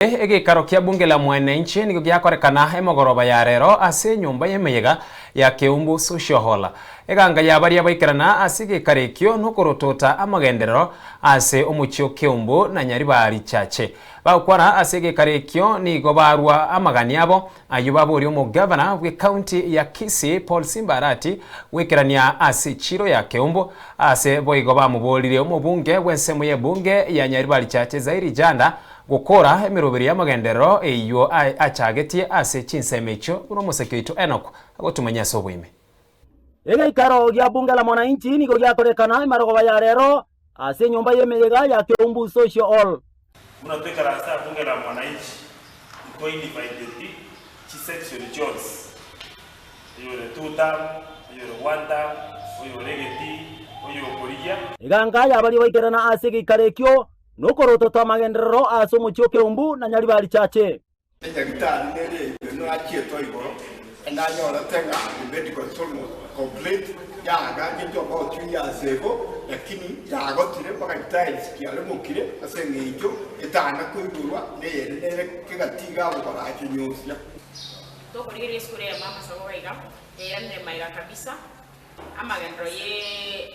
Naende egeikaro kia bunge la mwanenchi nigo giakorekana emogoroba ya rero ase enyomba y'emeyega ya Keumbu Social Hall. Eganga ya baria baikerana ase egeikaro ekio nokorotota amagenderero ase omochie o Keumbu na Nyaribari Chache. Bagokwana ase egeikaro ekio nigo barwa amagani abo, ayio baboria omogavana bw'ecounty ya Kisii Paul Simba Arati goikerania ase chiro ya Keumbu ase boigo bamoboorire omobunge bw'ensemo y'ebunge ya Nyaribari Chache Zairi Janda Gokora emeroberi y'amagenderero eyio achagetie ase chinsemo echio buna omoseke oito Enoku agotumanyia ase oboime. Egeikaro gia Bunge la Mwananchi nigo giatorekana amarogoba ya rero ase enyomba y'emeyega ya Keumbu Social Hall. Buna toikara ase Bunge la Mwananchi, nkoinviteti chisection chionsi, oyore two term, oyore one term, oyore egetii, oyokorigia. Eganga y'abaria baikerana ase egeikaro ekio Nokorototo amagenderero ase omochie o Keumbu na Nyaribari richache. Enyagitari neri eyio nachietwe igoro, enanyorete ng'a the medical zone was complete, yaagachete omotiuyi ase igo, lakini yaagotire mpaka tiles chiaremokire ase eng'encho etana koigorwa neyende nere kegatiga abogoro acho nyosia. Tokorigereria esukuru eye mama sabo gaiga yairanire maiga kabisa amagenderero ye.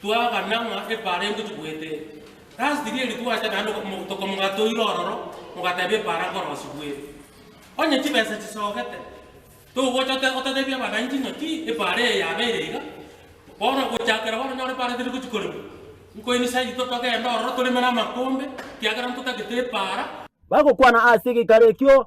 Twagana ng'a epaara eyio ntochigwete last rieri twacha naende omogotoka mogatoire ororo mogateba epaara nkorosibwere onye chibesa chisogete togocha otatebia abananchi ng'aki epaara eye yabeire iga bono gochakera bono onyore epaara teri gochia koremwa nkoini saito togende ororo toreme namakombe ekiagera ntotagete epaara. Bagokwana ase egekaro ekio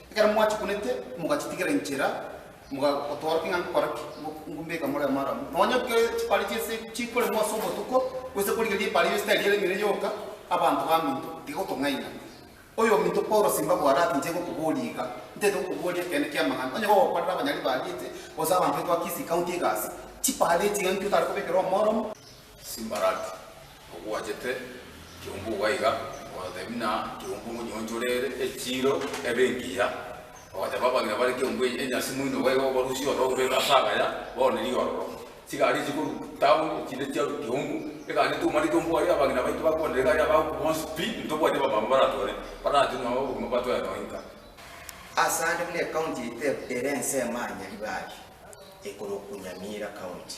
Ekero mwachikunete, mogachitigera inchera, mogagotoorokia ng'a nkore ki, ngombeka more amaramu. Nonya ekero chipari chi'ense chikoremwa ase obotuko, gose korigereria epari y'ense tari eremire yoka, abanto baminto tigotong'aina. Oyominto Paulo simba bware ati inche gokoboria iga, ntaete gokoboria ekeene ki'amang'ana. Onye gogokorera abanyari bariete, gose abanto baito ba Kisii, County egasi, chipari echi iga inki otare kobekera omoromo? Simbaraki, ogwachete kiombu baiga, ogotebi na kiombu monyoncho rere echiiro ebe engiya, ogateba abagina bare kiombu eye enyasi moino baiga obarusie ororo oberere ase agaya, bono riga ororo. Chigari echi korwa town echinde chiarwa kiombu, egari etoumane kiombu aria abagina baito bakwana egari aba abwo bonsi pi, ntobwati abamama baratore, barati nonya obogima batware nonya inga. Ase ande buna ecounty yaito ere ensemo aa Nyaribari, ekorookwa Nyamira County,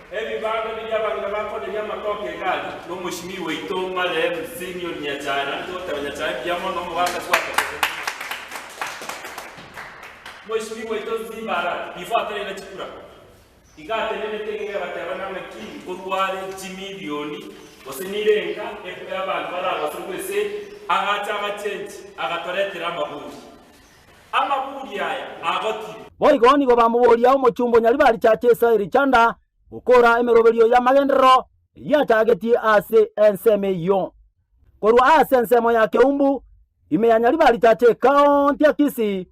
Ebibando biria abang'ina bakoneria amatoke egari nomoshimi waito marehemu Simeon Nyachae naende togoteba Nyachae mbuya mono omogaka twatokeretie moshimi waito Nzimbara before atarenda chikura iga atenenete iga egateba nang'a ki nkorware chimilioni gose nire enka epe abanto baragoserwe esegi agacha agachengi agatoretera amaburi Amaburi aya agotire. Boigo nigo bamoboria omochumba o Nyaribari cha chesa erichanda gokora emeroberio y'amagenderero eyiachagetie ase ensemo eyio. Korwa ase ensemo ya Keumbu, ime ya Nyaribari cha chekaonti ya Kisii,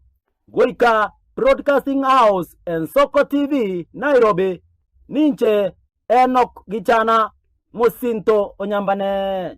goika Broadcasting House Ensoko TV Nairobi, ninche Enock Gichana mosinto o Nyambane.